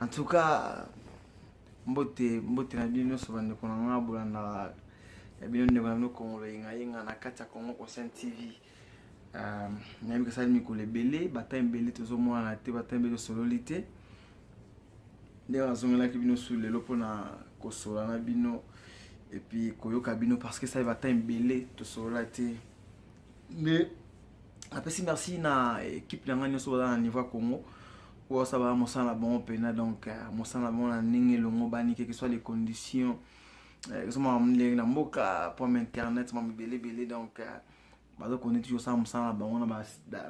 en tout cas mbote mbote na bino nyonso bandeko na ngai bolandaka ya bino ndeko na bino kongolo yengayenga na kati ya congo conscient tv um, nayebi kasali mikolo ebele bata ebele tozomonana te bata ebele osololi te ndenge nazongelaki bino su lelo mpona kosola na bino epuis koyoka bino parce que esali bata ebele tosolola te nde napesi merci na ekipe na ngai nyonso baza na niveau ya congo oyo asala mosala na bango mpena donc euh, mosala na bango na ndenge elongobani keke soit les conditions euh, ezomaka ndenge na mboka pome internet mama ebele ebele donc euh, baza koni toujours osala mosala na bango na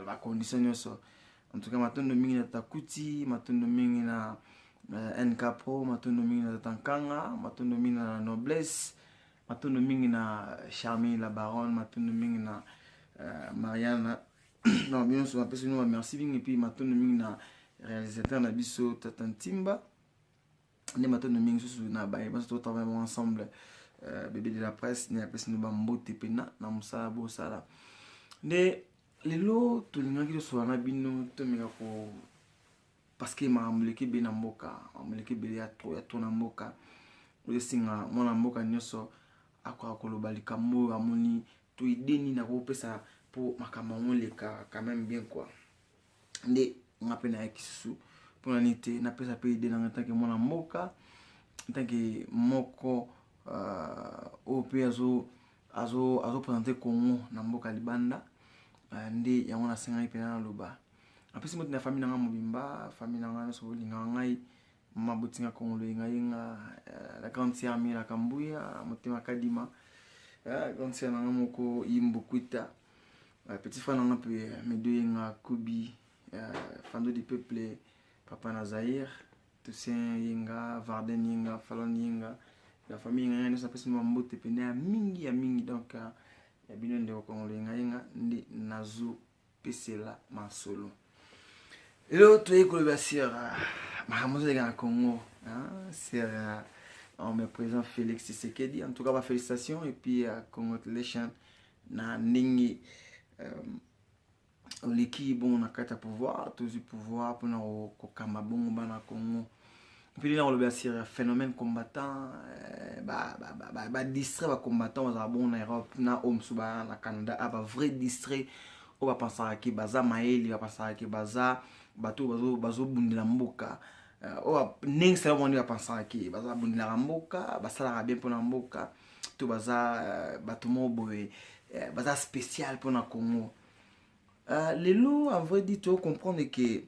bacondition nyonso en tout cas matondo mingi na tata kuti matondo mingi na nk pro matondo mingi na tata nkanga matondo mingi na noblesse Matondo mingi na Charmille la baronne, matondo mingi na uh, Mariana. na bionso napesi bino bamerci mingi mpe matondo mingi na réalisateur na biso tata ntimba nde matondo mingi susu na baye banso totravaille bango ensemble uh, bebe de la presse nde apesi bino bambote mpena na mosala bosala nde lelo tolingaki tosolola na bino tomeka ko parce que makambo eleki ebele na mboka makambo eleki ebele ya to ya to na mboka ozosenga mwana mboka nyonso akoka koloba likambo oyo amoni to ide nini akopesa mpo makambo yango eleka quand même bien quoi nde nga mpe nayaki susu mpona nini te napesa mpe ide nanga ntanke mwana mboka ntanke moko euh, oyo mpe azo azopresente congo na mboka libanda euh, nde yango nasengaki mpena naloba apesi moti na famille na nga mobimba famille na nga nyonso bolingaka ngai mama botinga kongolo yengayenga euh, la grande sœur miela kambuya motema kadima euh, grande sœur na nga moko imbokuita euh, petit frère na nga mpe medo yenga kobi fando de peuple papa na zaire toussaint yenga varden yenga falon yenga la famille yenga yenga nyonso apesi mama mbote mpena ya mingi ya mingi donc ya bino ndeko kongolo yengayenga nde nazo pesela masolo lelo toyei kolobela sera makambo ozoleka na congo sera on me présent félix tshisekedi en tout cas bafélicitation et puis uh, congratulation na ndenge um, oleki bongo na kati ya pouvoir tozwi pouvoir mpona kokamba bongo bana congo mpili na koloba sur euh, phénomène combattant euh, badistrait bacombattant bazala bongo na europe na oyo mosusu baa na canada a ah, bavrai distrait oyo bapansaka ke baza mayele bapansaka ke baza bato oyo bazobundela mboka euh, oyo ndenge sala bango nde bapansaka ke baza babundelaka mboka basalaka bien mpona mboka to baza bato moko boye baza spécial mpona congo lelo en vrai dit to comprendre ke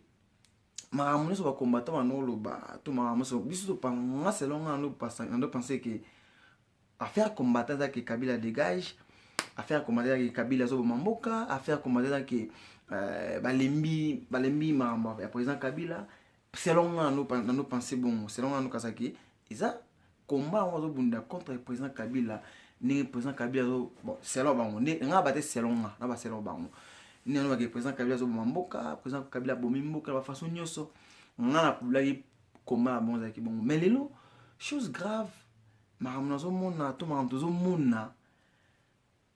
makambo nyonso bakombata banoloba to makambo nyonso biso topanga selon nga nando pense ke affaire kombata eza ke kabila dégage affaire kombata eza ke kabila azoboma mboka affaire kombata eza ke euh, balembi balembi makambo ya président kabila selon nga nando pense bongo selon nga nando kasa ke eza combat yango azobunda contre président kabila ndenge président kabila azo bon selon bango nde nga bate selon nga na baselon bango nde alobaki président kabila azoboma mboka président kabila abomi mboka na bafaçon nyonso nga nakulaki combat na bango ezalaki bongo mais lelo chose grave makambo nazomona to makambo tozomona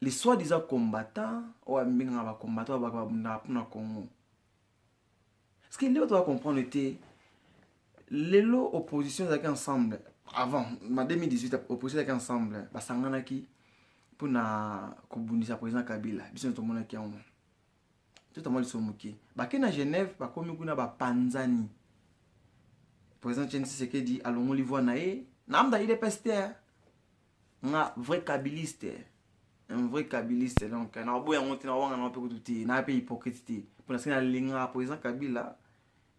les soi disant combattant oyo abengaka bacombattant oyo bakababundaka mpona congo ce que nde bato bacomprendre te lelo opposition ezalaki ensemble avant ma 2018 opposition ezalaki ensemble basanganaki mpo na kobundisa président kabila biso nde tomonaki yango totamwa liso moke bake na genève bakomi kuna bapanzani président chen sisekedi alongoli voi na ye naamda idps te nga vrai kabiliste un vrai kabiliste donc na obo yango te na wanga na pe kutu te na pe hypocrite te pona sina linga président Kabila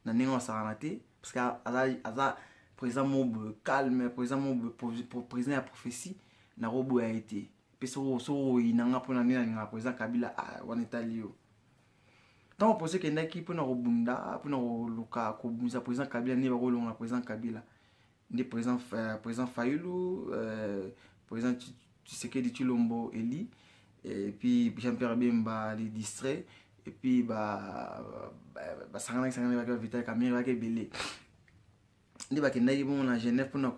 na ninga sakana te parce que aza aza président mob calme président mob président ya prophétie na robo ya été pe so so inanga pona nina linga président Kabila ah wana etali yo ntango poso ekendaki mpona kobunda mpona koluka kobundisa président kabila nde bakolongola président kabila nde président, euh, président fayulu euh, président tshisekedi tshilombo eli et puis jean pierre bemba les distrait et puis basanganaki sanganaki bake bavital kamere bake ebele nde bakendaki bongo na genève mpona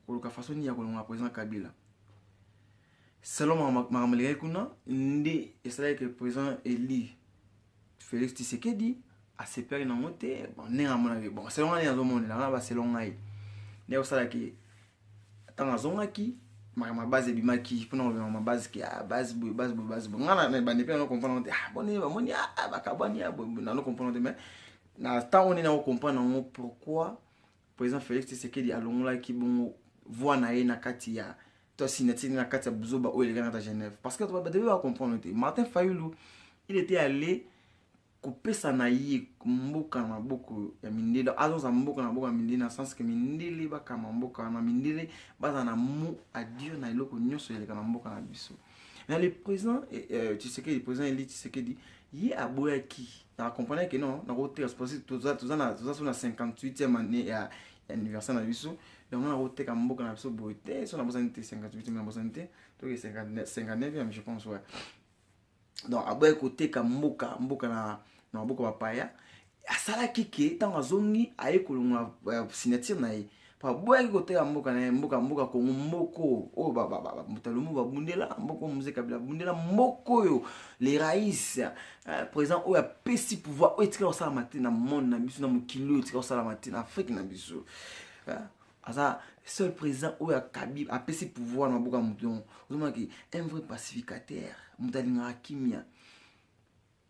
koluka façon nini ya kolongola président kabila selon makambo elekaki kuna nde esalaki ke président eli Felix Tshisekedi asepelaki nango te bon ndenge amonaki bon selon ngai ndenge azomonela ngai baselon ngai nde osalaki ntango azongaki makambo ya base ebimaki mpona kobima ma base ke ah, base boye base boye base boye ngai na ebandi mpe nano comprendre te ah, boni bamoni ah, bakabwani nano comprendre te mais na ntango nini nako comprendre yango pourquoi President Felix Tshisekedi alongolaki bongo voix na ye na kati ya to signature na kati ya buzoba oyo elekaka na Genève parce que bato ba comprendre te Martin Fayulu il était allé kopesa na ye mboka na maboko ya mindele azonza mboka na maboko ya mindele na sens ke mindele bakama mboka wana mindele baza na mot adio na eloko nyonso eleka na mboka na biso na le président eh, eh, tshisekedi président eli tshisekedi ye aboyaki nakomprenaki ke non nakoteka parce toza so na 58e année ya anniversaire na biso yango nakoteka mboka na biso boye te so nabosani te 58 nabosani te toke 59e je pense ouais donc aboyaki koteka mboka mboka na maboko bapaya asalaki ke ntango azongi aye kolongola euh, signature na ye baboyaki koteka mboka na ye mboka mboka kongo mboko oyo moto ya lumumba abundela mboko mose kabila abundela mboko oyo le rais euh, président oyo apesi pouvoir oyo etika kosalama te na monde na biso na mokili oyo etika kosalama te na afrike na biso euh, aza seul président oyo akabi apesi pouvoir na maboko ya moto yango ozomonaki un vrai pacificateur moto alingaka kimia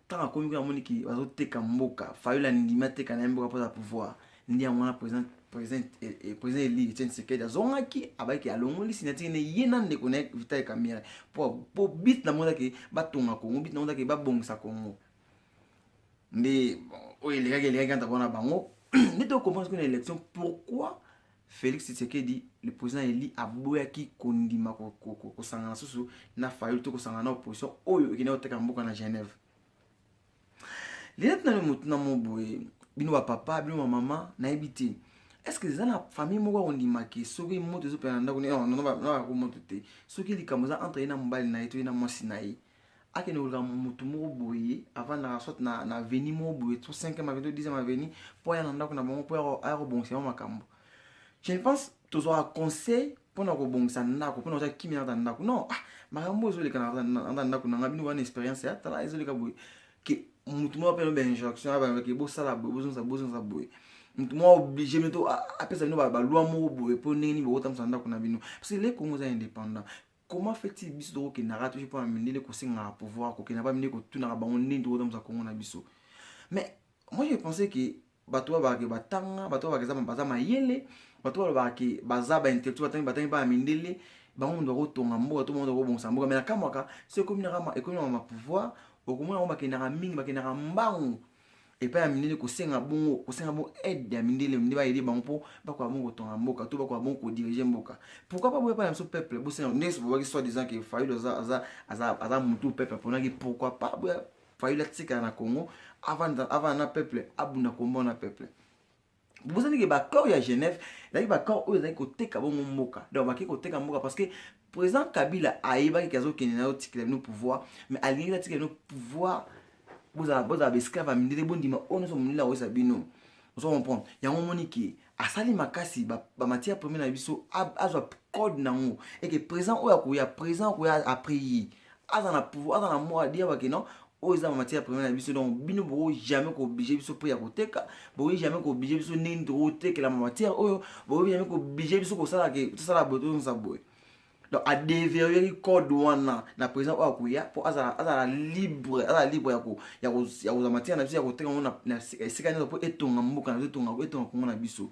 ntango akomi kuna amoni ke bazoteka mboka fayula andimi ateka na ye mboka mpo aza pouvoir nde yango wana président président eh, eh, président eli etienne sekedi azongaki abaki alongoli signature ne ye na ndeko na ye vital kamere mpo mpo bit na monda ke batonga kongo bit na monda ke babongisa kongo nde oyo elekaki elekaki anta mpona bango nde tokomprendre kuna élection pourquoi Felix Tshisekedi le président eli aboyaki kondima kosangana susu na Fayulu to kosangana na opposition oyo ekendaki koteka mboka na Genève. Linette nani motuna mo boye bino ba papa bino ba mama nayebi te est ce que eza na famille moko akondima ke soki moto ezopela na ndako nono bakomoto te soki likambo eza entre ye na mobali na ye to ye na mwasi na ye akende koluka motu moko boye avandaka soit na, na aveni moko boye to 5 aveni to 10 aveni mpo aya na ndako na bango mpo aya kobongisa yango makambo je ne pense tozwaka conseil mpo na kobongisa ndako mpo na kozala kimia nata ndako non ah, makambo ezoleka nata ndako na ngai bino wana experience ya tala ezoleka boye ke motu moko apena bainjonction abandaki bosala boye bozongisa bozongisa boye motu moko oblige mito apesa bino balwa moko boye mpo ndenge nini bokotambusa ndako na bino parce que le congo eza indépendant comment fait-il biso tokokendaka toujours mpona mindele kosengaka pouvoir kokenda ba mindele kotunaka bango ndenge tokotambusa kongo na biso mais moi je pensais que bato oyo balobaka batanga bato oyo balobaka baza mayele bato oyo balobaka baza baintellectuel batangi batangi bana mindele bango moto bakotonga mboka to bango moto bakobongisa mboka mai nakamwaka so ekomi na mapouvoir okomona bango bakendaka mingi bakendaka mbangu epai ya mindele kosenga bongo kosenga bongo aide ya mindele mindele baede bango mpo bakoka bongo kotonga mboka to bakoka bongo kodirige mboka pourquoi pas boya bana biso peuple bosenga ndenge bobaki soit disant ke fayulu aza, aza, aza, aza mutu peuple aponaki pourquoi pas boya fayulu atikala na congo avanda avanda na peuple abunda kombo na peuple bozali ke bacor ya genève ezalaki bacor oyo ezalaki koteka bongo mboka donc bakei koteka mboka parce que président kabila ayebaki ke azokende nayo tikela bino pouvoir mais alingaki atikela bino pouvoir bozala baesclave ya mindele bondima oyo nyonso mondele akoyesa bino ozo comprendre yango omoni ke asali makasi bamatière premier na biso azwa code na yango eke présent oyo akoya présent akoya après ye aza na pouvoir aza na mot adia bake non oyo eza matière première na biso donc bino boko jamais kooblige biso prix ya koteka bokoki jamais kooblige biso ndenge tokotekela matière oyo bokoki jamais kooblige biso kosala ke tosala boye tozongisa boye donc adeverrieri code wana na président oyo akoya mpo azala libre azala libre ya kozwa matière na biso ya koteka yango na esika nyonso mpo etonga mboka na biso etonga etonga kongo na biso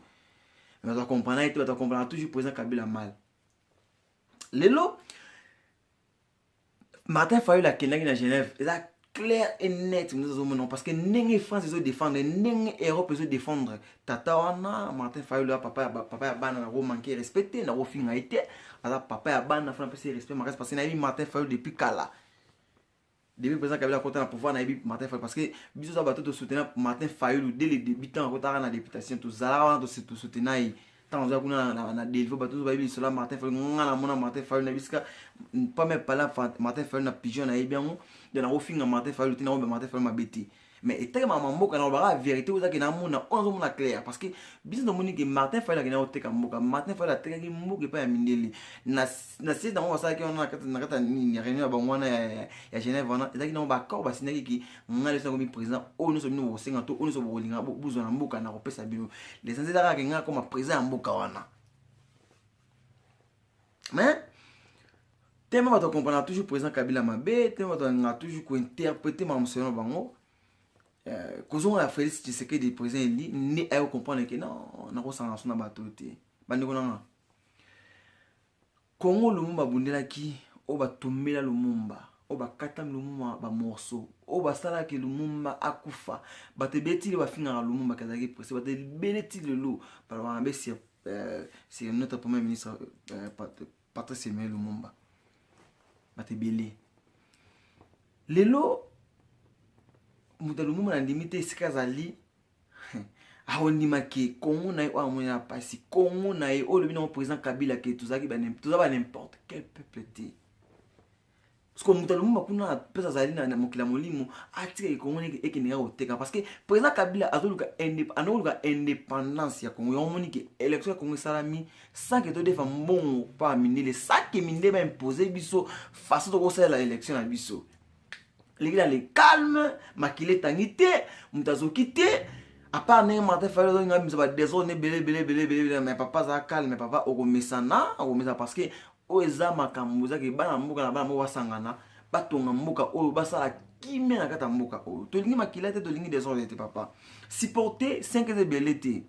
bato akomprana ye te bato akomprana toujours président kabila mal lelo martin fayol akendaki na genève eza clair et net moto ezomona parce que ndenge france ezo défendre ndenge europe ezo défendre tata wana martin fayol ya papa ya ba- papa ya bana nako manke respect te nako finga ye te aza papa ya bana fana pesi respect makasi parce que nayebi martin fayol depuis kala depuis président kabila akota na pouvoir nayebi martin fayulu parce que biso za bato tosoutenir martin fayulu dès le début ntango akotaka na députation tozalaka wana tosoutenir ye ntango oza kuna na delvo bato nyonso bayebi lisolo ya martin fayulu nga namona martin fayulu na bisika pame pala martin fayulu na pigeon nayebi yango de nakofinga martin fayulu te nakoyeba martin fayulu mabe te mais etali mama mboka nalobaka verité ozaki na mona oyo azomona claire parce que biso tomoni ke martin fayel akenda koteka mboka martin fayel atekaki mboka epai ya mindele na siège nango basalaki wana na kati ya nini réunion ya bango wana ya genève wana ezalaki nango baaccord basindaki ki ngai leso nakomi président oyo nyonso bino bokosenga to oyo nyonso bokolinga bozwa na mboka na kopesa bino lesanzi ezalaka ke ngai akoma président ya mboka wana mais teme bato akomprana toujours président kabila mabe teme bato alingaka toujours kointerprete makambo selon na bango euh, kozonga ya félix tshisekedi président eli nde ayo comprendre ke non nakosangana so na bato oyo te bandeko nanga kongo lumumba abundelaki oyo batumbela lumumba oyo bakata lumuma bamorso oyo basalaki lumumba akufa bato ebele ti lelo bafingaka lumumba ke azalaki prese bato ebele ti lelo balobaka mabe sur euh, c'est notre premier ministre euh, patrice emmanuel lumumba bato ebele lelo moto ya lumumba nandimi te esika azali akondima ke kongo na ye oyo amoni na mpasi kongo na ye oyo olobi nango président kabila ke toza ba n'importe quel peuple te siko moto ya lumumba kuna mpenza azali na mokili ya molimo atika ekongo neke ekendeka koteka parce que président kabila azoluka anakoluka indépendance ya congo yango omoni ke élection ya congo esalami sans ke todefa mbongo pa mindele sans ke mindele baimpose biso façon tokosalela élection na biso leki na le calme makila etangi te moto azoki te apart ndenge martin fayol azongi abimisa badesordre ebele ebele ebele ebele mais papa aza calme papa okomesana okomesana parce que oyo eza makambo eza ke bana mboka na bana moko basangana batonga mboka oyo basala kimia na kati ya mboka oyo tolingi makila te tolingi desordre te papa supporte 5 eza ebele te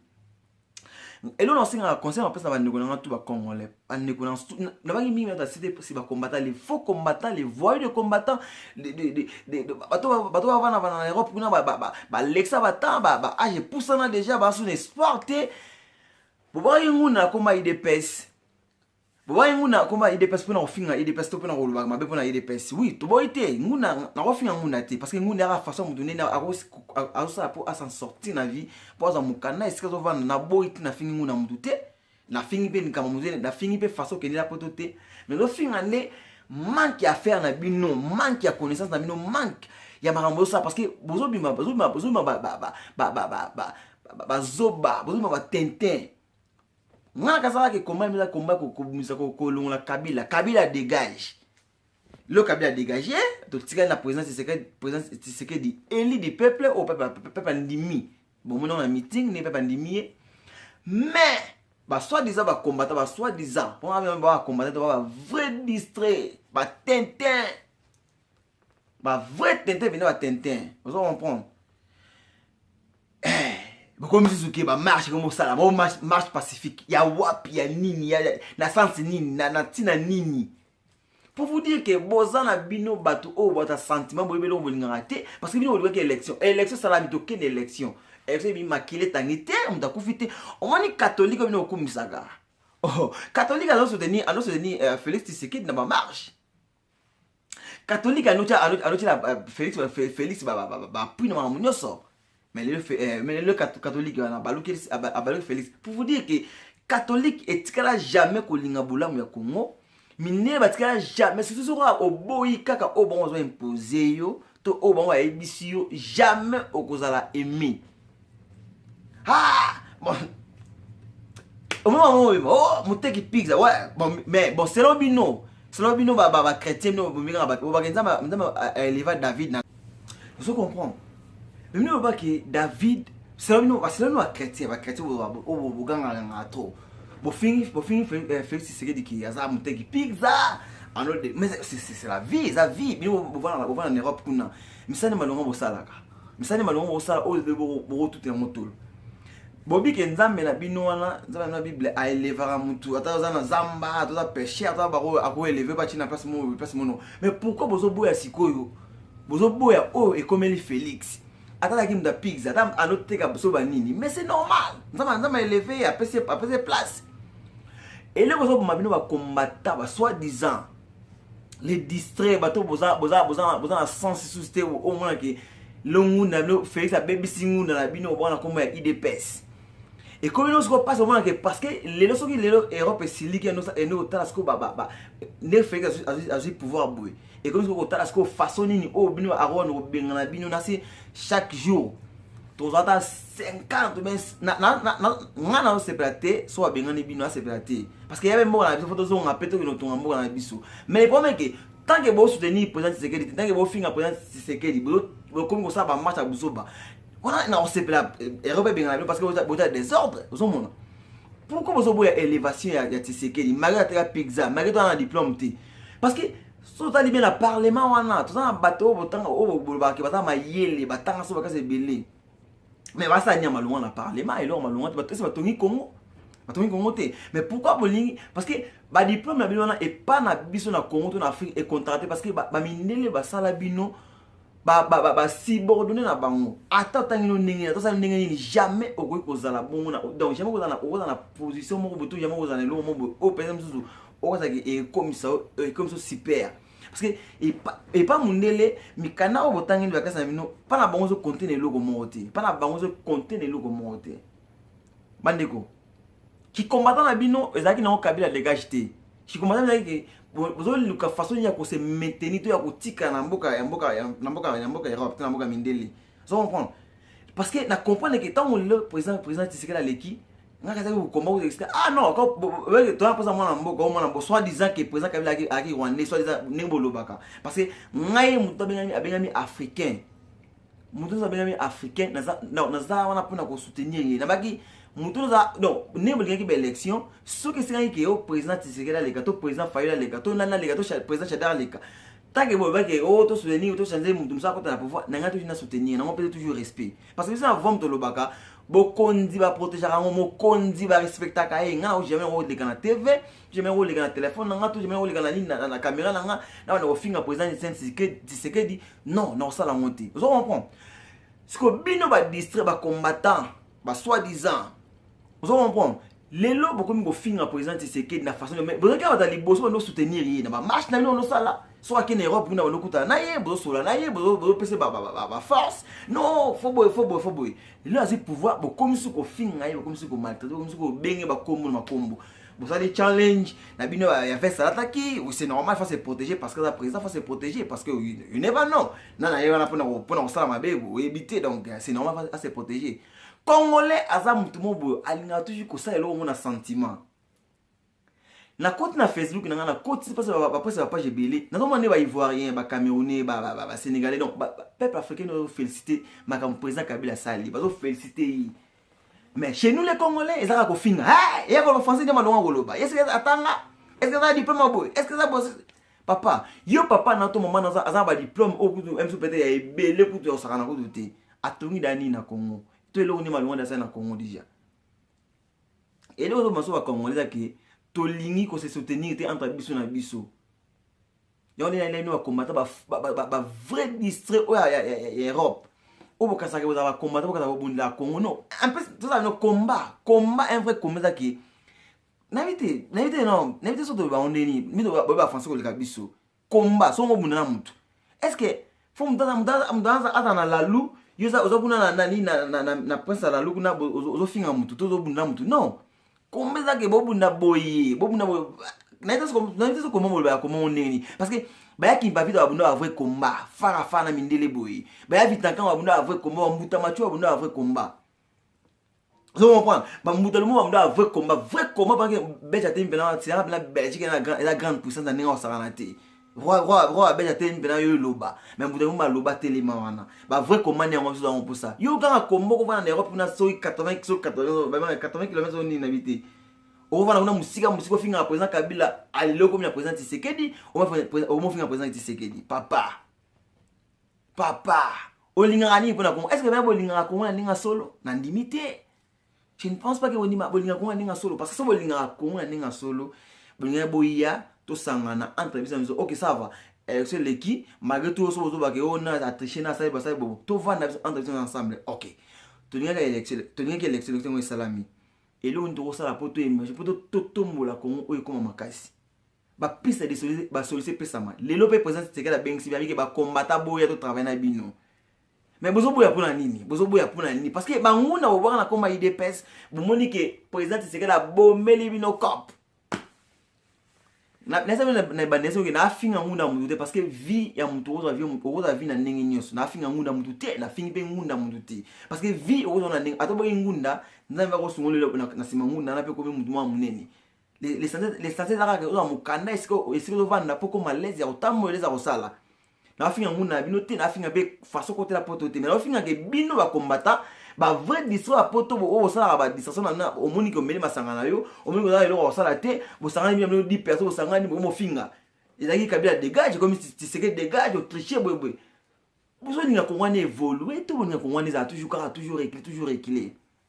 eloko na osengaka conseil napesa na bandeko na nga tu bacongolais bandeko nabaki mingi nata site si bacombattant les faux combattant les voyous de combattant bato bavanda vanda na europe kuna balekisa batan baage epusana déjà basu na espoir te bobaki nguna akoma idps bobaye nguna akoma edps mpo na kofinga edps to mpo na kolobaka mabe mpo na edps wi toboyi te nguna nakofinga nguna te parce que nguna yaka façon moto nene azosala mpo asan sorti na vie mpo azwa mokanda esika azovanda naboyi te nafingi nguna motu te nafingi mpe likambo motu nafingi mpe façon okendela poto te mais zofinga nde manque ya affaire na bino manque ya connaissance na bino manque ya makambo bozosala parce que bozobima bozobima bozobima bazoba bozobima batintin nga kazala ke combat mila combat kobimisa kolongola kabila kabila dégage le kabila dégage totikali na président tshisekedi élu du peuple oyo peuple andimi bomoni yango na meeting ne peuple andimi ye mais basoi-disant bakombata basoi-disant mpo bakombata to ba vrai distrait batintin ba vrai tintin bino ba tintin ozo comprendre eh, bokomi susu ke bamarche ekomi kosala bo marche pacifique ya wapi ya nini ya, na sense nini na, na ntina nini pour vous dire ke boza na bino bato oyo bato ya sentiment boyebi eloko bolingaka te parce que bino bolingaki élection élection esalami tokende élection élection ebi makele etangi te moto akufi te omoni katholike oyo bino okumisaka oh, katholike azosoutenir azosoutenir euh, félix tisekedi na bamarche catholique anotia anotiela euh, félix euh, félix bapui na makambo nyonso mais lelo euh, catholique wana abaluki ah, ah, félix pour vous dire que catholique etikala jamais kolinga bolamu ya congo minene batikala jamais surtout soki oboyi kaka oyo bango bazo impose yo to oyo bango ayebisi yo jamais okozala aimé ah, bon. omema ngo obima oh, moteki pizza ouais, bon, mais bon selon bino selon bino bachrétien bino bomingaka bato obake nzambe aeleva david na ozo comprendre mais bino obake david selon bino bachrétien bachrétien oboganganganga trop bofingi bofingi Felix eh, Tshisekedi ki aza muteki pizza alors de mais c'est la vie eza vie bino bovana bovana en Europe kuna misani malonga bosalaka misani malonga bosala oyo be bokotuta yango tolo bobike nzambe na bino wana nzambe na bible aelevaka mutu ata oza na zamba ata oza peche ata bako akoeleve batie na place moko place mono mais pourquoi bozoboya sikoyo bozoboya oyo ekomeli Felix ata azalaki moto ya pigs ata anoteka biso banini mais c'est normal nzambe nzambe aeleve apesi apesi place eloko ezoboma bino bakombata ba soit disant les distrait bato boza boza boza boza na sens lisusu te omona ke longunda bino félix abebisi ngunda na bino obwana nkombo ya idps ekomi no sikoyo mpasi omonake parce que lelo soki lelo europe esiliki ende kotala sikoyo nde félix azwi pouvoir boye ekomi soki kotala sikoyo façon nini oyo bino aron kobengana bino na se chaque jour tozwa ata 50 ngai nazosepela te so babengani bino asepela te parce que yabe mboka na biso fo tozonga mpe tokende kotonga mboka na biso mais le problème eke tant que bosoutenir président tisekedi te tant que bofinga président tisekedi bokomi kosala bamatch ya buzoba wana nakosepela eh, erope ebengana bino parce que bota desordre ozomona pourquoi bozoboya élévation ya tisekedi malgré ateka pizza malgré to ana diplôme te parce que so otali bien na parlement wana toza na bato oyo botanga oyo bolobaka ke baza mayele batanga so bakasi ebele me basala nia malonga na parlement eloko malonga te bato esi batongi congo batongi congo te mais pourquoi bolingi parce que badiplome na bino wana epa na biso na congo to na afrique econtracte parce que bamindele basala bino ba basibordonne na bango ata otangi no ndenge ata osali ndenge nini jamais okoki kozala bongo donc jamais okozala na position moko boto jamais okozala na eloko moko boye oyo mpenza mosusu okozalaki ekomisa ekomisa super parce que epa mondele mikanda oyo botangi nde bakasi na bino mpa na bango ozokonte na eloko moko te mpa na bango ozokonte na eloko moko te bandeko kikombatana na bino ezalaki nango kabila degage te kikombatana ezalaki bozoluka façon nini ya kose maintenir to ya kotika na mboka ya mboka na mboka ya mboka europe to na mboka mindele ozo comprendre parce que na comprendre ke ntango lelo président président tisekeli aleki nga kazaki kokomba ko expliquer ah non ko toya posa mwana mboka o mwana bo soit disant que président kabila aki aki rwandais soit disant ndenge bolobaka parce que ngai moto abengami abengami africain moto nyonso abengami africain naza non, naza wana mpona kosoutenir ye nabaki moto naza non ndenge bolingaki baélection soki esengaki ke o président tisekeli aleka to président fayol aleka to nani aleka to président chadar aleka tanke bolobaki o oh, tosoutenir tochange moto mosu akota na pouvoir na ngai toji na soutenir nango mpeza toujours respect parce que biso na vom tolobaka bokonzi baprotegeaka yango mokonzi barespectaka ye ngai nao jamais koleka na tv jamais koleka na telefone na ngai to jamais koleka na nini na kamera na ngai na banda kofinga président tisekedi non nakosala yango te ozo comprendre siko bino badistrait bacombattant basoi disant ozo comprendre lelo bokomi kofinga président tisekedi na façon mais bozalaki awa baza liboso bando soutenir ye na bamarche na bino banosala soki ake na europe kuna banokutana na ye bozosola na ye bozopesa baforce non fo boye fo boye fo boye lelo azwi pouvoir bokomisi kofinga ye bokomisi komaltraite bokomisi kobenge bakombo na makombo bosali challenge na bino ya veste alataki c'est normal faut se protéger parce que aza président faut se protéger parce que you never know na na ye wana mpona mpona kosala mabe oyebi te donc euh, c'est normal à se protéger congolais aza motu mo boyo alingaka toujours kosala eloko ngo na sentiment nakoti na facebook na ngai nakoti mpasi bapesa bapage ebele nazomona nde baivoirien bacamerounais basénégalais donc peuple africain oyo félicité makambo président kabila asali bazofélicité ye Mais chez nous les Congolais, ezaka kofinga. Eh, yako le français de malonga koloba. Est-ce que atanga? Est-ce que ça diplôme boy? Est-ce que ça boss? Papa, yo papa na to maman na za ba diplôme au kutu même peut-être ya ebele kutu ya sakana kutu te. Atongi dani na Congo. To eloko ni malonga da ça na Congo déjà. Et là, on va se voir Congolais qui tolingi ko se soutenir te entre biso na biso. yango nde naino bakombata bavrai distrait oyo ya europe oyo bokasaka bozala bakombata bokasa kobundela congo no mpe tozala no combat combat un vrai combat ezaki nayebi te nayebi te non nayebi te so toyeba bango ndeni mito boyeba français koleka biso combat songo obunda na motu est ce que fo moto azala na lalu yo oza kuna na nani na prince ya lalu kuna ozofinga motu to ozobunda motu non komba ezake bobunda boye bobunda boye nayebisa koma moloba ya koma ndenge nini parce que baya kimpavita babunda ba vrai combat fara fara na mindele boye baya vitankan babunda ba vrai combat bambuta macho babunda ba vrai combat ozo comprendre bambuta lomo bambuta ya vrai combat vrai combat parce que belge atemi mpena asilaka mpena belgique eza grande puissance na ndenge osakana te roi roi roi ya belge atemi mpena yo eloba mais mbuta lomo aloba telema wana ba vrai combat nde yango biso yango mposa yo kaka kombo kovanda na europe kuna soki 80 soki 80 km oyo nini na bite okofanda kuna mosika mosika ofingaka président kabila alelo okomi na président tisekedi omofinga président tisekedi papa papa olingaka nini mpona kongo estce baya bolingaka kongo na ndenge ya solo na ndimi te je ne pense pas ke bolingaka kongo na ndenge ya solo parce que so bolingaka kongo na ndenge ya solo bolingaki boya tosangana entre biso na biso ok ça va élection eh, eleki malgré tout oso bozobake o oh, na atriche na asali basali bobo tovanda biso entre biso ensemble ok tolingaki élection tolingaki élection élection yango esalami eloko nini tokosala mpo toemerge mpo totombola kongo oyo ekóma makasi ba piste de solution ba solution pesama lelo pe président Tshisekedi abengisi bamike ba combattant boya to travail na bino mais bozo boya pona nini bozo boya pona nini parce que banguna bobwaka na koma idps bomoni ke président Tshisekedi abomeli bino cop naebandela soki nafinga ngunda ya motu te parce que vie ya motu okozwa vie okozwa vie na ndenge nyonso nafinga ngunda ya motu te nafingi mpe ngunda ya motu te parce que vie okozwa na ndenge ata oboki ngunda nzambe akosungolela na nsima ngunda na mpe komi motu mwa monene lesanse eza kaka ozwa mokanda esika ozovanda mpo koma lese ya kotambola eleza kosala nafinga nguna na bino te nafinga mpe faso kotela poto te me nafingake bino bakombata bavrai distro ya poto oyo bosalaka badistraction na bino omoni ke omeli masanga na yo omoni kozala eloko ya kosala te bosangani bino bino di perso bosangani bomofinga ezalaki kabila degage ekomi tiseke degage otriche boyeboye bozolinga kongo wana evolue to bolinga kongo wana ezala toujours kaka toujours recule toujours recule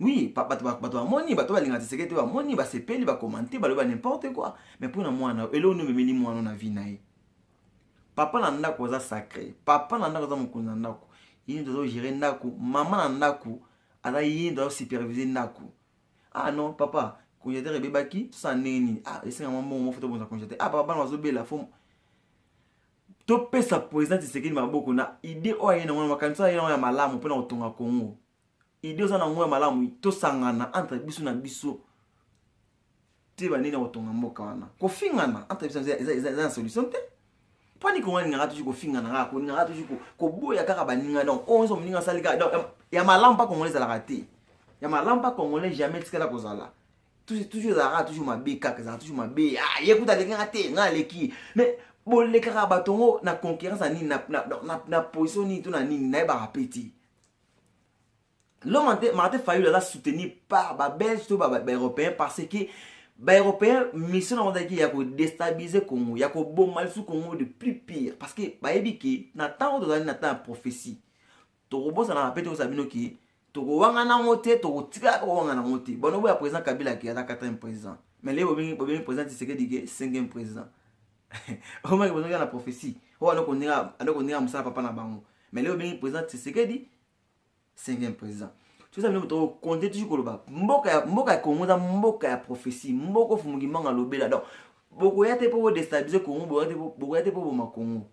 Oui, bato bamoni, bato balinga tiseke te bamoni, basepeli, bakomante, baloba n'importe quoi. Mais mpo na mwana, eloko nini omemeli mwana na vie na ye? Papa na ndako aza sacré, papa na ndako aza mokonzi na ndako. Yini tozo gérer ndako, mama na ndako aza yini tozo superviser ndako. Ah non, papa, congélateur ebebaki, tosala ndenge nini? Ah, esenga mwa mbongo moko tobonza congélateur. Ah, papa bana bazobela, faut topesa président Tshisekedi maboko na idée oyo aye na wana makanisa aye na wana ya malamu mpo na kotonga Congo. idée oza na ngo ya malamu tosangana entre biso na biso te banini ya kotonga mboka wana kofingana entre biso eza na solution te mpo niko nga ningaka tuji kofingana kaka koningaka tuji koboya kaka baninga donc oyo nyonso moninga asali kaka donc ya malamu mpa congolais ezalaka te ya malamu mpa congolais jamais etikala kozala toujours ezalaka toujours mabe kaka ezalaka toujours mabe ah, ye kuta aleki nga te nga aleki mais bolekaka bato yango na concurrence ya nini na position nini to na nini nayebaka mpe te L'homme Martin Fayulu aza soutenu par ba Belges to ba, ba, ba Européens parce que ba Européens mission na wanda ki ya ko déstabiliser Congo, ya ko boma lisusu Congo de plus pire parce que bayebi ke na ntango tozali na temps ya prophétie tokobosanaka mpe tokosa bino ke tokowangana yango te tokotikala kowangana yango te bano boya président kabila ke aza 4 président mais leye bobengi président tisekedi ke 5 président omaki bazongi na prophetie oyo aloko ndenge aloko ndenge mosala papa na bango mais leo obengi président tshisekedi cinquième président toza bino moto okonte tuki koloba mboka ya mboka ya congo eza mboka ya prophetie mboka ofumuki mbanga lobela donc bokoya te mpo bodestabilise congo bokoya te mpo boma congo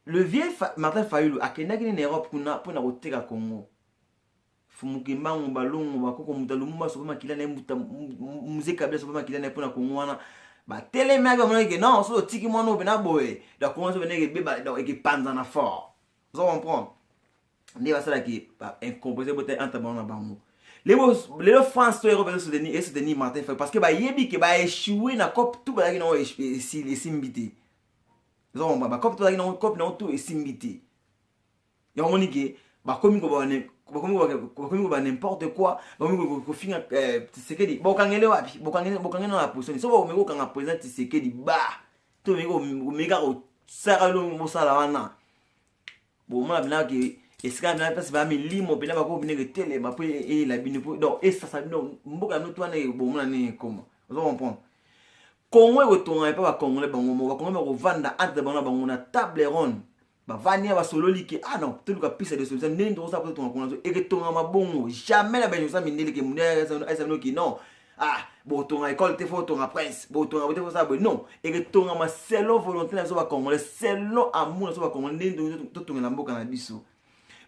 le vieux martin fayulu akendaki nini europe kuna mpo na koteka congo fumukembangu balongo bakoko moto ya lumumba sope makila na ye muze kabila sope makila na ye mpo na kongo wana batelemaki bamonaki ke non soki otiki mwana oyo pena boye donc kongo sope ndenge ebeba donc ekepanzana fort ozo comprendre nde basalaki incomprese botali entre bango na bango lelo france to europe esoutenir esoutenir martin fay parce que bayebi ke baechoue na cope tout bazalaki nango esimbi te ozo comprendre bacope tout bazalaki nango cope nango tout esimbi te yango omoni ke bakomi koba n'importe quoi bakomi kofinga eh, tisekedi bokangele wapi bokangele na position so bakomeki kokanga président tisekedi ba to omeki kaka kosaka elongo bosala wana bomona bina ke esika bina mpasi baya milimo mpena bakoki bina ketelema mpo eyela bino mpo donc esasa bino mboka bino to wana bomona nini ekoma ozo comprendre kongo ekotonga epa bakongole bango mo bakongole bakovanda entre bango na bango na table ronde bavandi ya basololi ke ah non toluka piste ya resolution ndenge tokosala mpo totonga kuna eketongama bongo jamais na bainonsa mindele ke munde aisabino ki non ah botonga ekole te fo otonga prince botonga bote fosala boye non eketongama selon volonté na biso bacongolais selon amour na biso bacongolais ndenge totongela mboka na biso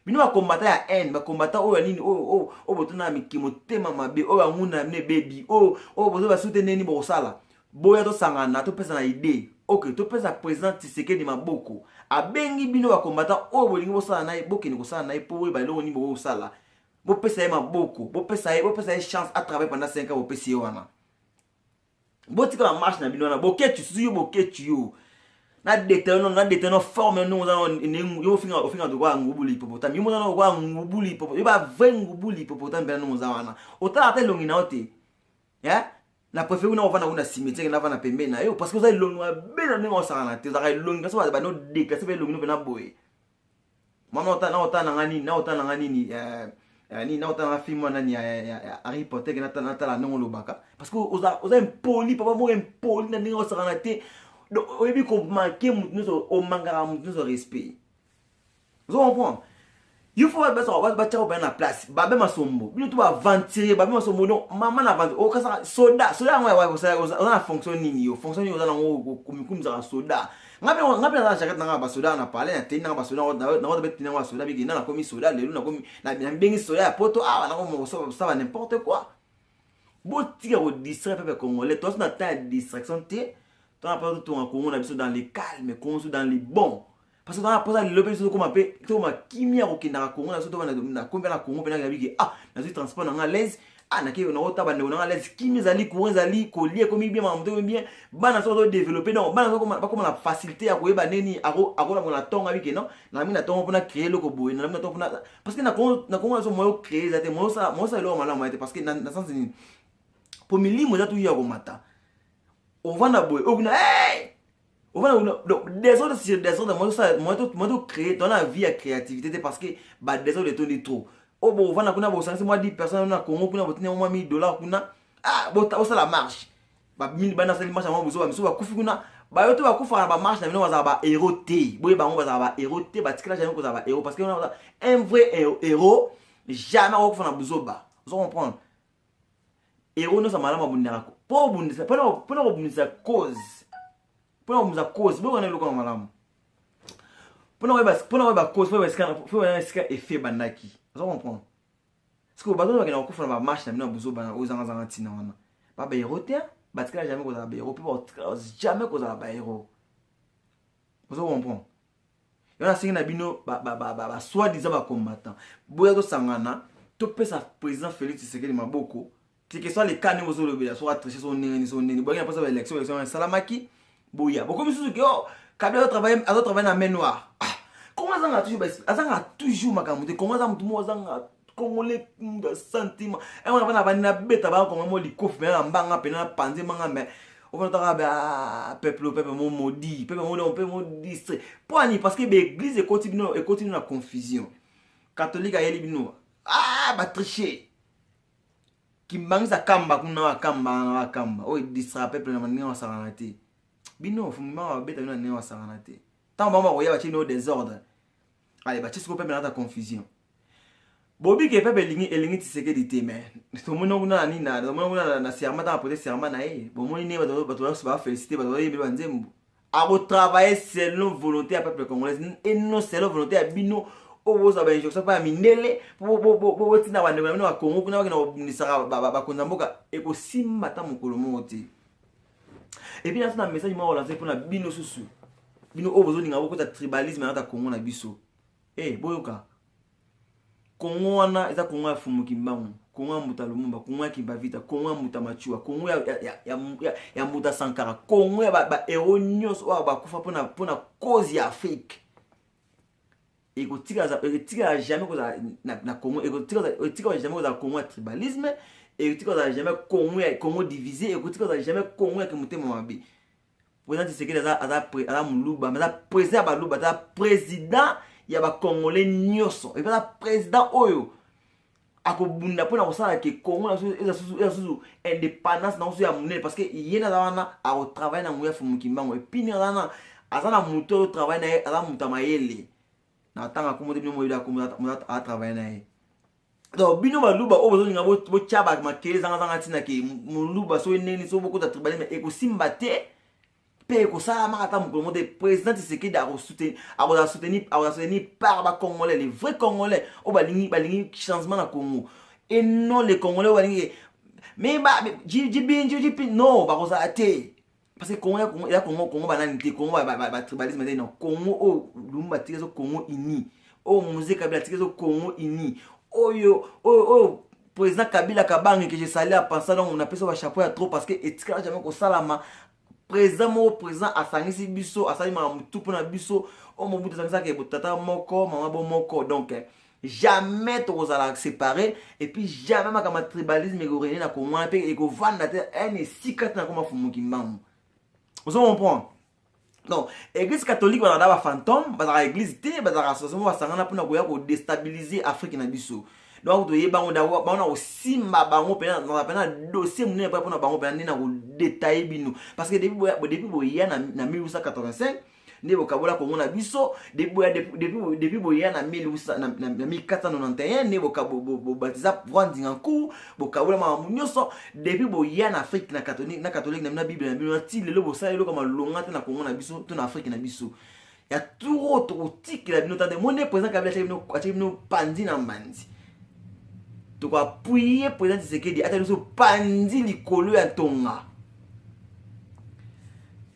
bino bakombata ya haine bakombata oyo ya nini oyo oh, oh, oh, botuna ya miki motema mabe oyo anguna ya bino ebebi oyo bozo basute ndenge nini bokosala boya tosangana topesa na idee ok topesa président tisekedi maboko abengi bino bakombatan oyo bolingi bosala na ye bokende kosala na ye mpo boyeba eloko nini bokoki kosala bopesa ye maboko bopesa ye bopesa ye chance atravaille pendant 5 ans bopesi ye wana botika na marche na bino wana boketi susu yo boketi yo na deteno na deteno forme no oza yo ofinga ofinga to kwa ngubuli hippopotame yo mozana kwa ngubuli hippopotame yo ba vrai ngubuli hippopotame bela no oza wana otala ata elongi na yo te eh? na préfère kuna ovanda kuna cimetière na vana pembeni na yo parce que oza elongi ya bena ndenge osakana te ozaka elongi kasi baza bano déclasse mpe elongi no mpe na boye mama na ota na nga nini na ota na nga nini eh, eh, nini na ota na nga film wana nani ya harry potter natala ndenge olobaka parce que oza impoli papa moko impoli na ndenge osakana te donc oyebi komake motu nyonso omangaka motu nyonso respect ozo comprendre il faut batiaka bana na place babe masombo bino to baaventurier babe masombo no mama na aventure okasaka oh, soda soda yango oza na fonction nini yo fonction nini oza nango komikumisaka soda ngai mpe naza na jaket nanga basoda na palais natei nanga basoda nango tabe tei nango basoda biki na nakomi soda lelo nakomi nabengi soda ya poto awa ah, nakomosaba n'importe quoi botika kodistraire pepe congolais toasi na temps ya distraction te tona mpe totonga kongo na biso dans le calme kongo so dans le bon parce que bana posa lelo mpe biso tokoma mpe tokoma kimia ya kokendaka kongo na biso tokoma na kombe na kongo mpe nayabi ke ah nazwi transport na ngai alaise ah nake naota bandeko na ngai alaise kimia ezali courant ezali kolia ekomi bien makambo tokomi bien bana soko todeveloppe donc bana soko bakoma na facilité ya koyeba nini akolako na ntongo abi ke non nalingi na ntongo mpona créer eloko boye nalingi na ntongo mpona parce que na kongo na kongo na biso moyo créer eza te moyo osala moyo osala eloko malamu ya te parce que na sens nini mpo milimo eza tuya komata ovanda boye okuna hey! donc desordre sur desordre moi to créer dans la vie ya créativité te parce que ba desordre etondi trop oyo oh, bovanda kuna bosangisi mwa 10 personne na congo kuna botini yango mwa 1000 dollar kuna ah, osala marche babini bana asali marche yango bozoba misusu bakufi kuna bayo to bakufaka na bamarche na bino bazala bahero te boye bango bazala bahero te batikela jamai kozala bahero parce que un vrai hero jamais akokufa na buzoba ozo comprendre ero nyonso malamu abundaka mpo obundisa mpo na kobundisa cause mpo na kobundisa cause boyokana eloko na malamu mpo na koyeba cause mpo oyeba esika efe ebandaki oza comprendre sikoyo bato oyo bakenda kokufa na bamarche na bino ya bozobana oyo ezangazanga ntina wana babaero te batikala jamais kozala baero mpe jamais kozala baero ozo comprendre yo nasengi na bino basoi diza bacombattant boya tosangana topesa président félix tshisekedi maboko tike soit le cas ndenge ozolobela soki atriche so ndenge ni so ndenge boyangi na posa ba élection élection esalamaki boya bokomi susu ke o kabila azotravaille na main noire ah, kongo azanga toujours azanga toujours makambo te kongo aza motu moko azanga congolais mutu ya sentiment yango eh, na bana bani nabeta bana kongo mo likofi pena na mbanga pena na panze mbanga me ofanataka be ah, peuple o peuple mo modi peuple mo leo mpe mo distre mpo ani parce que baeglise ekoti bino ekoti bino na confusion katholike ayeli bino ah batriche kimbangisa kamba kuna wakamba wana wakamba oyo edistra peuple na ndenge wasakana te bino fumima wabeta bino na ndenge wasakana te ntango bango bakoya batye bino desordre ale batye siko peuple nata confusion bobike pepe elingi elingi tisekedi te me tomoni yango kuna na nini na tomoni yango kuna na serma ntango apote serma na ye bomoni nde bato bato nyonso bafélicité bato bayembi banzembo akotravaille selon volonté ya peuple congolaise et non selon volonté ya bino oyo bozwa bainjonction mpo ya mindele botinda bandeko na bino bakongo kuna bakenda kobundisaka bakonzi ya mboka ekosimba ata mokolo moko te epuis naso na message moko olanse mpo na bino susu bino oyo bozolinga bokota tribalisme na kata kongo na biso hey, eh, boyoka kongo wana eza kongo ya fumu kimbangu kongo ya mbuta lumumba kongo ya kimbavita kongo ya mbuta machua kongo ya, ya, ya, ya, ya, ya mbuta sankara kongo ya baero ba nyonso oyo bakufa mpona mpona cause ya afrike ekotikala jamais kozala na, na kongo ekotikala jamais kozala kongo ya tribalisme ekotikala jamais kongo ya kongo divise ekotikala jamais kongo ya kimotema mabe President Tshisekedi aza aza aza muluba, aza president ya baluba, aza president ya ba congolais nyonso. Et aza president oyo akobunda mpo na kosala ke congo na biso eza susu indépendance na biso ya monene parce que ye nde aza wana akotravaille na nguya fumu kimbango epuis nde aza wana aza na moto oyo travaille na ye aza moto ya mayele na ntango akomo te bino moyebi akomo atravaille na ye donc bino baluba oyo bozolinga botya makele zangazanga ntina ke moluba soki ndenge soki bokota tribalisme ekosimba te mpe ekosalamaka ata mokolo moko te président tisekedi akozala soutenu par bacongolais les vrai congolais oyo balingi balingi changement na congo et non les congolais oyo balingi mais jibinjijipin non bakozala te parce que congo ya congo congo banani te congo batribalisme te non congo oyo lumbu batiki ezo congo uni oyo mose kabila atiki ezo congo uni oyo oyo oyo président kabila kabange que je sali a pensa donc napesa bachapeau ya trop parce que etikala jamais kosalama président moko président asangisi biso asali makambo tu mpo na biso oyo mobutu azangisaka tata moko mama bo moko donc eh, jamais tokozala séparé et puis jamais makambo ya tribalisme ekorene na kongo wana mpe ekovanda te ene esika te nakoma fumuki mbangu ozo comprendre donc église catholique bazalaka na bafantôme bazalaka église te bazalaka association moko basangana mpona koya kodestabilise afrique na biso donc toyeba yango dako bango na kosimba bango mpena nazala mpena dossier monene mpona bango mpena nde na kodetaille bino parce que depuis boya na 1885 nde bokabola kongo na biso depuis boya na 1491 nde bobatiza pouvoir ndinga nku bokabola makambo nyonso depuis boya na afrike na katholike na bino na bible na bino na ti lelo bosala eloko malonga te na kongo na biso to na afrike na biso ya turo tokotikela bino tande moni président kabila atyaki bino panzi na mbanzi tokoapuye président tisekedi ata biso panzi likolo ya ntonga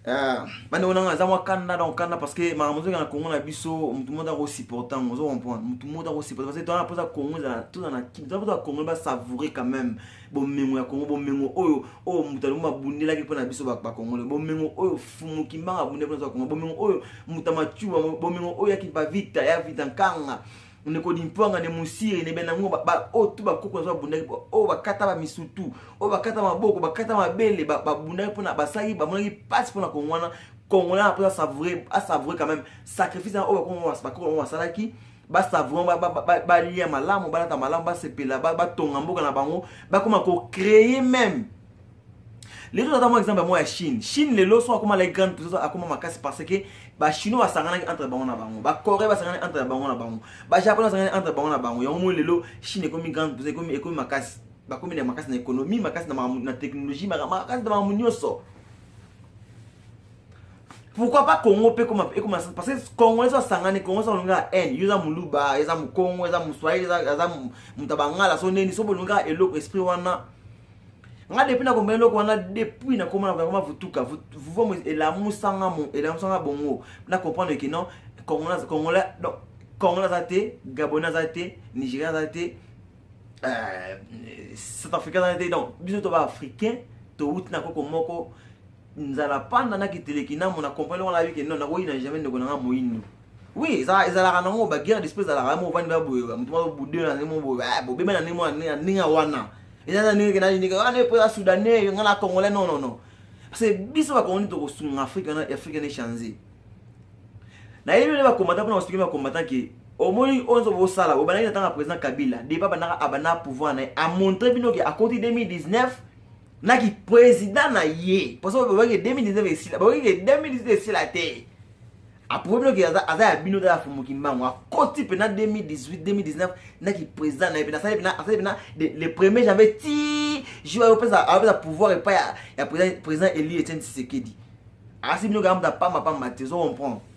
Ah, bande wana aza mwa kanda donc kanda parce que makambo ozoki na congo na biso motu moto ako supporte yango ozo comprendre motu moto ako supporte parce que toana mposa congo ezala toza na kim toza mposa congo basavoure quand même bomengo ya congo bomengo oyo oyo moto alingo babundelaki mpo na biso bakongole bomengo oyo fumukimbanga abundeli mpo na biso bakongole bomengo oyo moto amacuba bomengo oyo ya kipavita ya vita nkanga ndeko limpuanga ne mosiri ne benango oyo tu bakoko nazo babundaki oyo bakata bamisutu oyo bakata maboko bakata mabele babundaki mpona basali bamonaki mpasi mpona kongo wana congolais na mposa asavoure asavoure quand même sacrifice oyo bakoko yango basalaki basavoure balia malamu balata malamu basepela batonga mboka na bango bakoma kocreye meme lelo tata mwa exemple ya mwa ya chine chine lelo so akoma laki grande puissance akoma makasi parce que bachinois basanganaki entre bango na bango bacorée basanganaki entre bango na bango bajaponais basanganaki entre bango na bango yango moi lelo chine ekomi grande puissance ekomi, ekomi makasi bakomi na makasi na économie makasi na, na technologie makasi na makambo nyonso pourquoi pas congo mpe ekoma parce que congo eza asangani congo eza olonga haine yo eza moluba eza mokongo eza moswahili eza moto abangala so neni so bolonga eloko esprit wana nga depuis nakoma eloko wana depuis nakoma nakoma vutuka vuvomo elamusanga mo elamusanga bongo na comprendre ke non congolais congolais donc congolais aza te gabonais aza te nigérien aza te euh, south africain aza te donc biso toba africain towuti na koko moko nzala panda na kiteleki na mona comprendre wana abi ke non nakoyi na jamais ndeko na nga moyindo oui ezala ezalaka nango ba guerre d'esprit ezalaka mo bandi ba boye ba mutu ba bude na nemo boye ba bo bema na nemo na ninga wana ezala ninga na ninga wana epo ya soudanais nga na congolais non non non parce que biso ba congolais to ko sunga afrique na afrique ne changer na yebi ba combattant pona ko ba combattant ke omoni oyo nzo bosala obandaki na ntango ya président kabila depa bandaka abanda pouvoir na ye amontre bino ke akoti 2019 na ki président na ye parce que babaki 2019 esila babaki 2019 esila te aprouve bino ke aza ya bino tala fumu kimbangu akoti mpena 2018 2019 na ki président na ye mpena asali mpena asali mpena le premier janvier ti jour ayopesa ayopesa pouvoir epai ya président elie etienne tshisekedi asi bino kaka mutu apamba pamba te ozo comprendre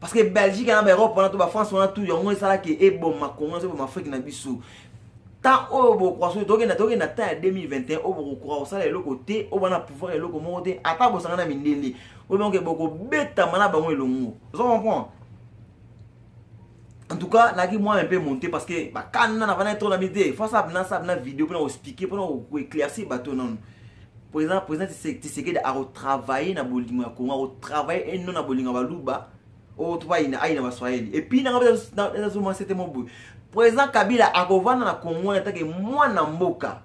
parce que belgique na baeurope wana to bafrance wana tout yango esalaki eboma congo ezoboma afrique na biso temps oyo bokoka soki tokenda tokenda temps ya 2021 oyo bokokoka kosala eloko te oyo bana pouvoir eloko moko te ata bosanga na mindele oyo bango bokobetama na bango elongo ozo comprendre en tout cas naki moi un peu monté parce que bakana na vana trop na mide face à bna ça bna vidéo pona ko expliquer pona ko éclaircir bateau non président président tisekedi akotravaille na bolingo ya kongo akotravaille eno na bolingo ya baluba oyo oh, to bayina ayina baswahili epuis nanga nazomona sete mo boye président kabila akovanda na kongo wana etake mwana mboka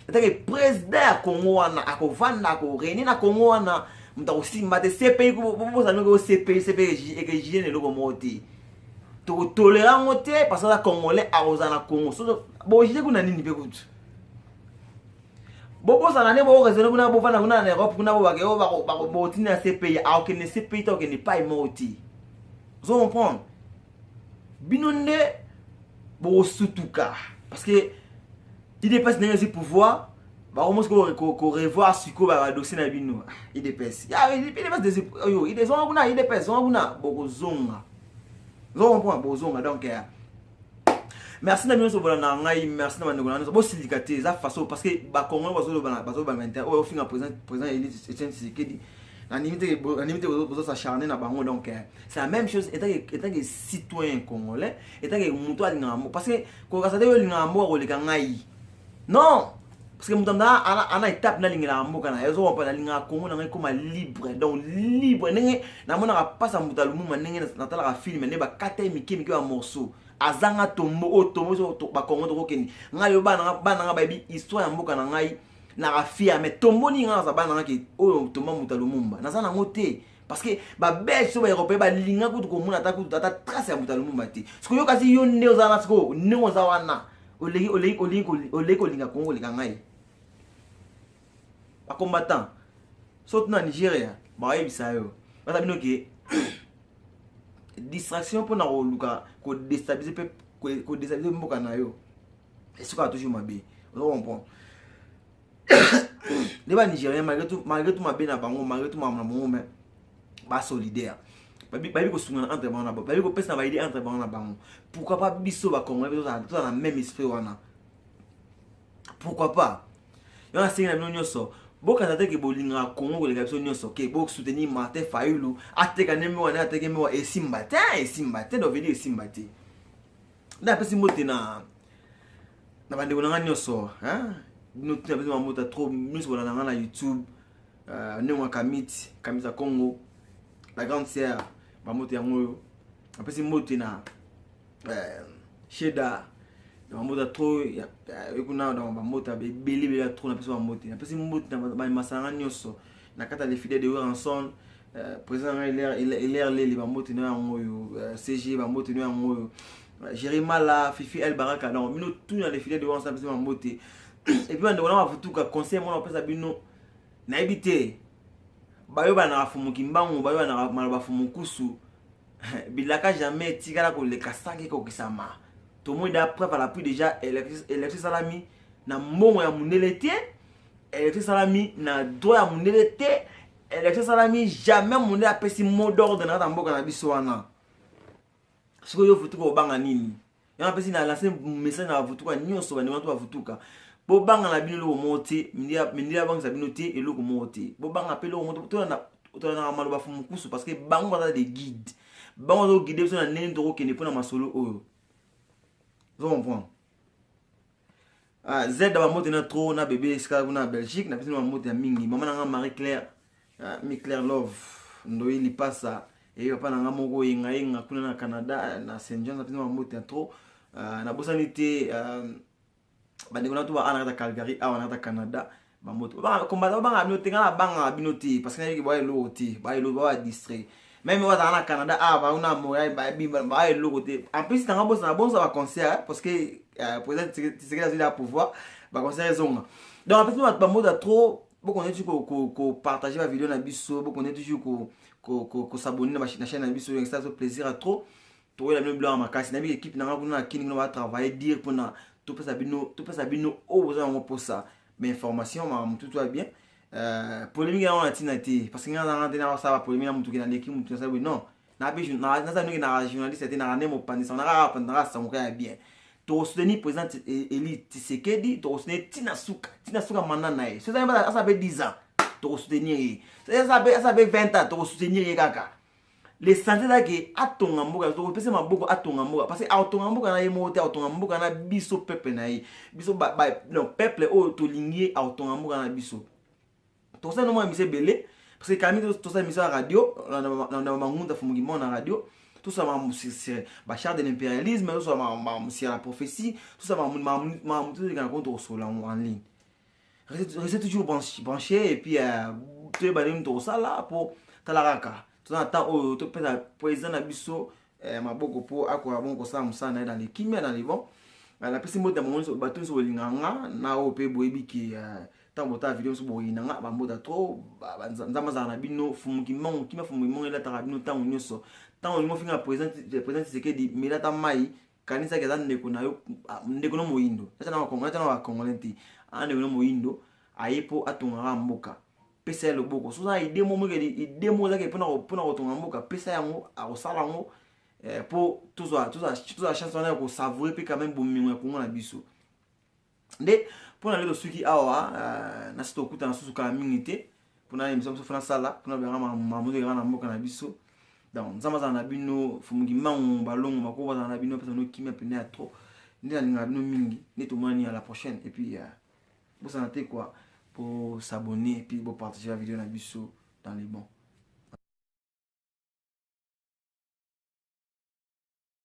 etake président ya kongo wana akovanda akorene na kongo wana moto akosimba te cpi bozalaki o cpi cpi ekejine eloko moko te tokotolera yango te parce aza congolais akozala na kongo bojide kuna nini mpe kutu bobosana nde boresone kuna bofanda kuna na europe kuna bobake oyo botindi na cpi akokende cpi te okende pai moko ti ozo comprendre bino nde bokosutuka parce que idps ndenge esi pouvoir bakomo sikoyo korevoir sikoyo badosie na bino idps oyo idps zonga kuna idps zonga kuna bokozonga ozo comprendre bokozonga donc euh, merci na bino nyonso bolanda ngai merci na bandeko na nyonso bosilika te eza façon parce que bacongolais bazolobana bazobanga inter oyo ofinga président président elise etienne tshisekedi nanimi te nanimi te bozo s'acharner na bango donc eh, c'est la même chose etant que etant que citoyen congolais etant que moto alingaka mboka parce que kokasa te yo olingaka mboka koleka ngai non parce que moto anda ana étape nalingelaka mboka na ezo wapa nalingaka congo na ngai ekoma libre donc libre ndenge namonaka mpasa moto alumuma ndenge natalaka filme nde bakata ye mike mike bamorceau azanga tombo oyo tombo biso bakongo tokokende ngai yo bana ngai bayebi histoire ya mboka na ngai na rafia mais tombo nini ngai naza bana ngai ke oyo tomba moto alumumba naza nango te parce que babelge to baeuropéen balinga kutu komona ata kutu ata trace ya moto ya lumumba te sikoyo kasi yo nde oza wana sikoyo ndenge oza wana oleki oleki oleki oleki kolinga kongo koleka ngai bacombattant soki na nigeria bayebisa yo baza bino ke distraction mpona koluka kodestabilize mpe kodestabilize mboka na yo esukaka toujours mabe ozo comprendre nde ba nigérien malgré tout malgré tout mabe na bango malgré tout makambo na bango mais ba solidaire bayebi kosungana entre bango na bango bayebi kopesa baide entre bango na bango pourquoi pas biso bacongolais mpe tozala na même esprit wana pourquoi pas yo nasengi na bino nyonso bokata te ke bolingaka kongo koleka biso nyonso ke bosoutenir martin fayulu ateka nde mewa nde ateke mewa esimba te esimba te dovedi esimba te nde apesi mbote na na bandeko na ngai nyonso bino tina biso mamota trop miso bolanda ngai na youtube euh, ndenge ya kamiti kamiti ya congo la grande sœur bamoto yango oyo apesi mbote na euh, sheda na bambote ya trop ekuna na bambote ebele ebele ya trop napesi bambote napesi mbote na bamasanga nyonso na kati ya lefide de weranson euh, président na ngai hilaire leli bambote na yango oyo cg bambote na yango oyo Jerimala, Fifi El Baraka, non, mino tout na défilé de Wansa Pese Mambote. Et puis, on a un futuka conseil, moi, on pesa bino, na habité. Bayo ba na fumu kimbangu, bayo na maloba fumu kusu. Bilaka jamais tigala ko le kasangi ko kisama. Tout le monde a preuve à l'appui déjà, électrice salami, na mbongo ya mundele te, électrice salami, na droit ya mundele te, électrice salami, jamais mundele a pesi mot d'ordre na mboka na biso wana. sikoyo yo vutuka obanga nini yango apesi na lance message na bavutuka nyonso bandima to bavutuka bobanga na bino eloko moko te mindele abangisa bino te eloko moko te bobanga mpe eloko moko tolanaka maloba fu mokusu parce que bango baza de guide bango azokogide biso na ndenge tokokende mpo na masolo oyo ozo comprendre Ah, Z ba mbote na trop na bébé esika kuna Belgique na pesi na mbote ya mingi mama na nga Marie Claire ah, mi Claire Love ndoyi lipasa et papa na nga moko yenga yenga kuna na Canada na Saint John na pesi na mbote ya trop ah, na bosani te ah, bandeko na to ba ana kata Calgary awa na kata Canada bamoto kombata babangaka bino te ngai nabangaka bino te parce que nayebi ke baya eloko te baya eloko baya distrait meme oyo azala na canada awa ah, bango na montréal baya eloko te en plus nanga bosana bonsa baconcert parce que euh, président tisekeli azali ya pouvoir baconcert ezonga donc apesi bato bamota trop bokonde toujours kopartage bavideo na biso bokonde toujours kosabonne na chaîne na biso yangisa biso plaisir ya trop toyela bino bilanga makasi nayebi ekipe na ngai kuna na kini kuna batravaille dire mpona topesa bino topesa bino oyo boza yango mposa mais information makambo motutu ya bien euh, polémique yango na ntina te parce que ngai nazanga te nakosala bapolémique na motuki naleki motu nasala boye non naza noki na journaliste te naka nde mopanisa nakaka naka sangoka ya bien tokosoutenir président e-, eli tisekedi tokosoutenir tina suka tina suka manda na ye soki asala mpe 10 ans tokosoutenir ye soki asala mpe 20 ans tokosoutenir ye kaka lesanse eza ke atonga mboka topesa maboko atonga mboka parce que akotonga mboka na ye moko te akotonga mboka na biso peuple na ye biso donc peuple oyo tolingi ye akotonga mboka na biso tosali nomona mise ebele parce que kami tosali mise ya radio na mangunda fumukimao na radio tosala makambo sur bachar de l'impérialisme tosala makambo sur la prophétie tosala makambo makambo tozolekana kono tokosolola yango en ligne reste toujours branché et puis euh, toyeba nini tokosala mpo tala kaka toza na temps oyo topesa président na biso euh, maboko mpo akoka bongo kosala mosala na ye na lekimia na libon euh, napesi mbote ya bato nyonso bolinga nga na oyo mpe boyebi ke ntango botala video mosusu boyina nga bambota trop nzambe azala na bino fumu kimongo kima fumu kimongo elataka bino ntango nyonso ntango olingi ofinga président tisekedi melata mai kanisaki aza ndeko na yo ndeko na moyindo ata na bacongolais te aza ndeko na moyindo aye mpo atongaka mboka pesa ye loboko soki oza ide mo mokeli ide mo ozaki mpona kotonga mboka pesa yango akosala yango mpo eh, tozwa chance wana ya kosavoure mpe quand même bomengo ya kongo na biso nde mpo na lelo soki awa euh, nasi tokutana susu kala mingi te mpona emission biso fona sala mpona bengaka makambo ezokaka na mboka na biso donc nzambe azala na bino fumuki mango balongo makoko bazala na bino apesa bino kimia mpena ya trop nde nalingaka bino mingi nde tomonani ya la prochaine et puis euh, bosana te kua bosabonne et puis bopartage ya video na biso dans les bons